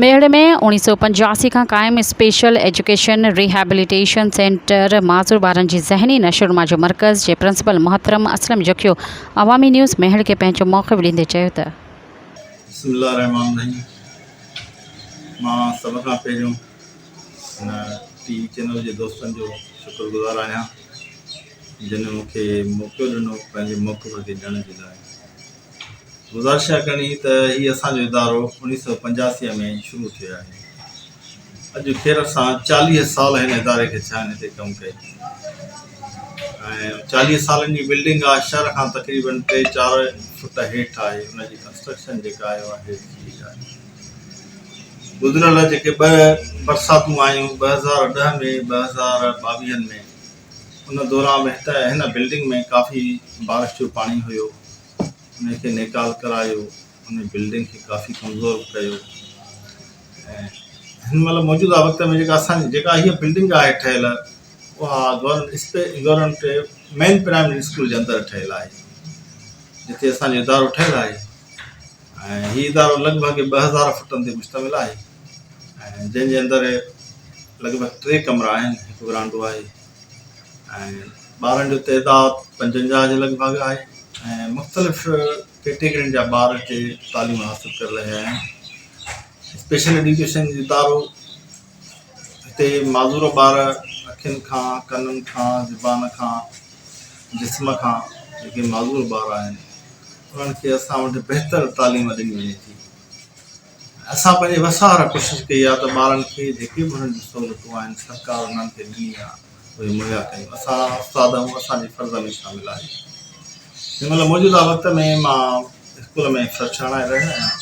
ميڙ ۾ اوڻيھ سؤ پنجاسي کان قائم اسپيشل ايجوڪيشن ريهيبليٽيشن سينٽر معذور ٻارن جي ذهني نشونما جو مرڪز جي پرنسپل محترم اسلم جکيو عوامي نيوز ميھڙ کي پنهنجو موقف ڏيندي چيو ته بسم الله الرحمٰن الرحيم مان سڀ کان پهريون هن ٽي وي چينل جي دوستن جو شڪر گذار آهيان جن مون کي موقعو ڏنو پنهنجي موقف کي ڏيڻ جي لاء گذارش اها ڪرڻي ته هي اسان جو ادارو اڻيهه سؤ پنجاسي ۾ شروع ٿيو آهي. اڄ خير سان چاليهه سال هن اداري کي ٿيا آهن هتي ڪم ڪئي. ۽ چاليهه سالن جي بلڊنگ آهي شهر کان تقريباً ٽي چار فٽ هيٺ آهي ان جي ڪنسٽرڪشن جيڪا آهي اها هيٺ ٿي وئي آهي. گذريل جيڪي ٻه برساتون آيون ٻه هزار ڏهه ۾ ٻه هزار ٻاويهن ۾ ان دوران به هت هن بلڊنگ ۾ ڪافي بارش جو پاڻي هيو ان کي نيڪال ڪرايو ان بلڊنگ کي ڪافي ڪمزور به ڪيو ۽ هن مهل موجوده وقت ۾ جيڪا اسان جيڪا هيء بلڊنگ آهي ٺهيل اها گورنمنٽ اسپي گورنمنٽ مين پرائمري اسڪول جي اندر ٺهيل آهي جتي اسانجو ادارو ٺهيل آهي ۽ هي ادارو لڳ ڀڳ ٻه هزار فٽن تي مشتمل آهي جنهن جي اندر لڳ ڀڳ ٽي ڪمرا آهن هڪ ورانڊو آهي ۽ ٻارن جو تعداد پنجونجاهه جي لڳ ڀڳ آهي ۽ مختلف ڪيٽيگرين جا ٻار هتي تعليم حاصل ڪري رهيا آهن اسپيشل ايڊيوڪيشن جو ادارو هتي معذور ٻار اکين کان ڪنن کان زبان کان جسم کان جيڪي معذور ٻار آهن انهن کي اسان وٽ بهتر تعليم ڏني وڃي ٿي اسان پنهنجي وس وارا ڪوشش ڪئي آ ته ٻارن کي جيڪي به انهن جون سهولتون آهن سرڪار انهن کي ڏني آ اهي مهيا ڪيون اسان استاد آهيون اسان جي فرض ۾ شامل آهي هن مهل موجوده وقت ۾ مان اسڪول ۾ سرڇڻائي رهيو آهيان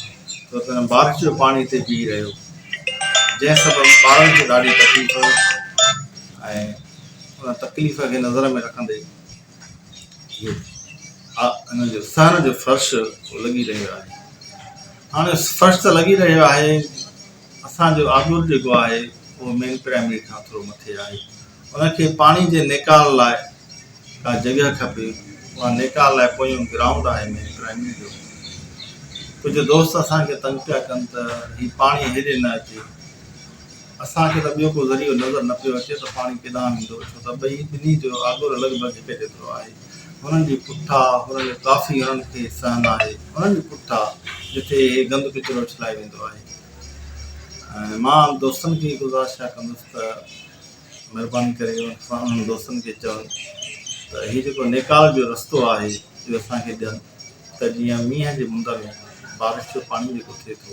ڇو ته هن بارش جو پاڻي هتي بيهي رهيو جنهن سبب ٻارن کي ڏاڍي تڪليف ۽ ان تڪليف کي نظر ۾ رکندي انهن جو سهڻ جو فرش لڳي رهيو آهي. هاڻي فرش ته لڳي رهيو آهي، اسان جو آبور جيڪو آهي اهو مين پرائمري کان ٿورو مٿي آهي، ان کي پاڻي جي نيڪال لاء ڪا جڳهه کپي، اها نيڪال لاء پويون گرائونڊ آهي مين پرائمري جو، ڪجهه دوست اسان کي تنگ پيا ڪن ته هي پاڻي هيڏي نه اچي. اسان کي ته ٻيو ڪو ذريعو نظر نه پيو اچي ته پاڻي ڪيڏانهن ويندو، ڇو ته ٻئي ٻنهي جو آڳر لڳ ڀڳ هڪ جيترو آهي. هنن جي پٺا، هنن جو ڪافي هنن کي سهن آهي. هنن جي پٺا، جتي هي گند ڪچرو اڇلائي ويندو آهي. ۽ مان دوستن کي گذارشا ڪندس ته مهرباني ڪري انهن دوستن کي چون ته هي جيڪو نيڪال جو رستو آهي اهو اسان کي ڏين ته جيئن مينهن جي مند ۾ بارش جو پاڻي جيڪو ٿئي ٿو،